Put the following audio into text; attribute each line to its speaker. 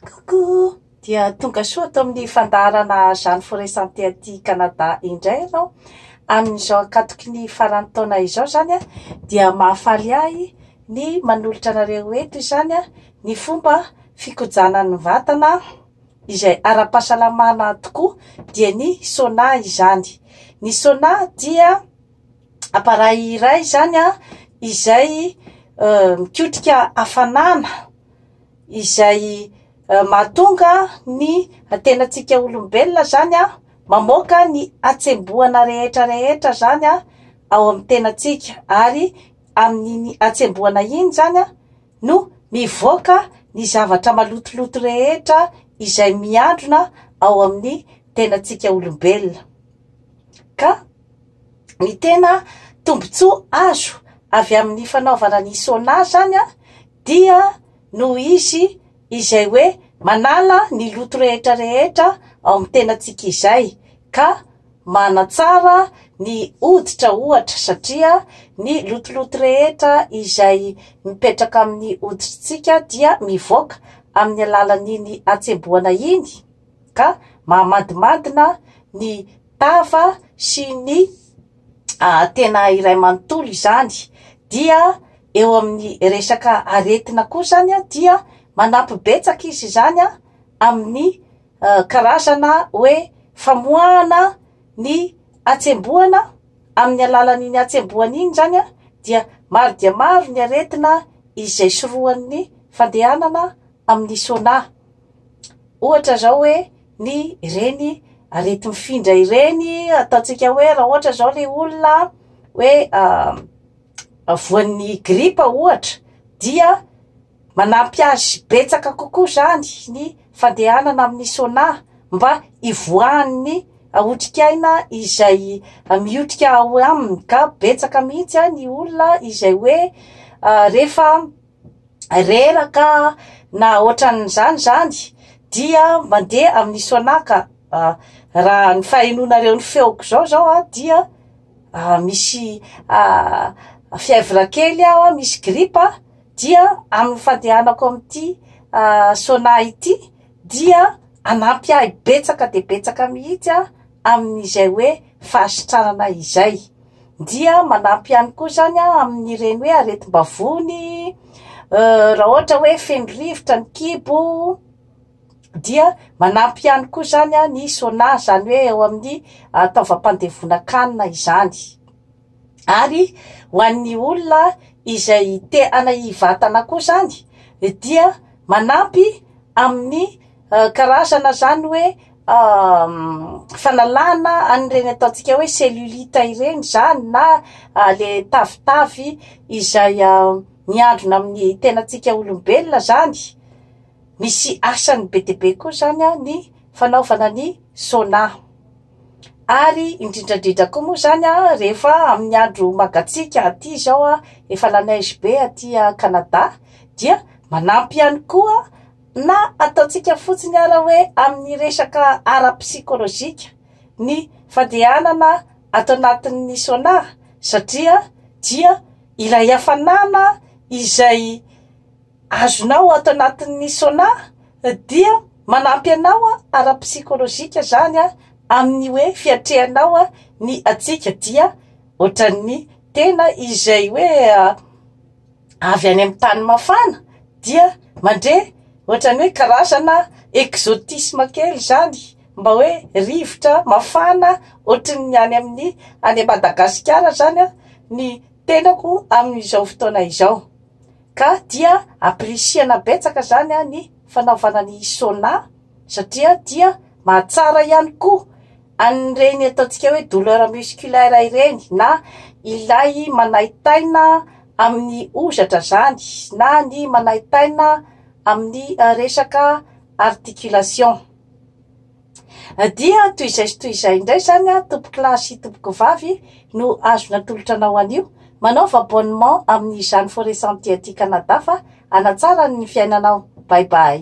Speaker 1: Coucou! Dia tonga soa ato amin'ny fandaharana Jeanne Foresanté aty Canada indray ianao. Amin'izao ankatoky ny faran'ny taona izao izany dia mahafaly ahy ny manolotra anareo eto izany ny fomba fikojanan'ny vatana izay ara-pahasalamana tokoa dia ny sauna izany. Ny sauna dia appareil iray izany izay mikotrika hafanana. izay mahatonga ny tenantsika olombelona izany an, mamoaka ny hatsembohana rehetra rehetra izany an, ao amin'ny tenantsika ary amin'iny hatsembohana iny izany an, no mivoaka ny zavatra malotoloto rehetra izay mihandrona ao amin'ny tenantsika olombelona. Ka ny tena tombotsoa azo avy amin'ny fanaovana ny sauna izany an. Dia noho izy izay hoe manala ny loto rehetra rehetra ao amin'ny tenantsika izay, ka manatsara ny hoditra ohatra, satria ny lotoloto rehetra izay mipetraka amin'ny hoditritsika dia mivoaka amin'ny alalan'iny hatsembohana iny, ka mahamadmadina ny tava sy ny tena iray manontolo izany dia eo amin'ny resaka aretina koa izany dia manampy betsaka izy izany amin'ny karazana hoe famoahana ny hatsembohana amin'ny alalan'iny hatsembohana iny izany dia maro dia maro ny aretina izay sorohan'ny fandehanana amin'ny sauna, ohatra izao hoe ny ireny areti-mifindra ireny ataontsika hoe raha ohatra izao ilay olona hoe voan'ny gripa ohatra dia manampy azy betsaka kokoa izany ny fandehanana amin'ny sauna mba hivoahan'ny otrikaina izay mihotrika ao aminy ka betsaka mihitsy ny olona izay hoe rehefa reraka na ohatran'izany izany dia mandeha amin'ny soanà ka raha ny fahenoanareo ny feoko izao izao a dia misy fièvre kely aho a, misy gripa dia amin'ny fandehanako amin'ity soanà ity. dia hanampy ahy betsaka dia betsaka mihitsy aho amin'izay hoe fahasitranana izay, dia manampy ihany koa izany aho amin'ireny hoe aretim-bavony, raha ohatra hoe feno rivotra ny kibo, dia manampy ihany koa izany ny sauna izany hoe eo amin'ny taovam-pandevonan-kanina izany. Ary ho an'ny olona izay te hanahy vatana koa izany dia manampy amin'ny karazana izany hoe fanalana an'ireny ataontsika hoe cellulite ireny izany na le tavitavy izay miandrona amin'ny tenantsika olombelona izany. Misy asany be dia be koa izany ny fanaovana ny sauna. ary indrindrandrindra koa moa izany a rehefa amin'ny andro mangatsiaka aty izao a efa la neige be aty Canada dia manampy ihany koa na ataontsika fotsiny ara hoe amin'ny resaka ara psikolojika ny fandehanana ato anatin'ny sauna satria dia ilay hafanana izay azonao ato anatin'ny sauna dia manampy anao ara-psykolojika zany amin'ny hoe fiatrehanao ny hatsiaka dia ohatran'ny tena izay hoe avy any amin'ny tany mafana dia mandre ohatran'ny hoe karazana exotisme kely izany mba hoe rivotra mafana ohatran'ny any amin'ny any Madagasikara zany ny tenako amin'izao fotoana izao ka dia appricier-na betsaka zany a ny fanaovana ny sauna satria dia mahatsara ihany koa an'ireny ataontsika hoe douleur musculaire ireny na ilay manahy taina amin'ny hozatra zany na ny manahy taina amin'ny resaka articulation. Dia toy izay sy toy izay indray izany an, tompoko lahy sy tompoko vavy no azo natolotra anao anio. Manaova abonnement amin'izany Forêt Sentier aty Canada fa hanatsara ny fiainanao. Bye bye.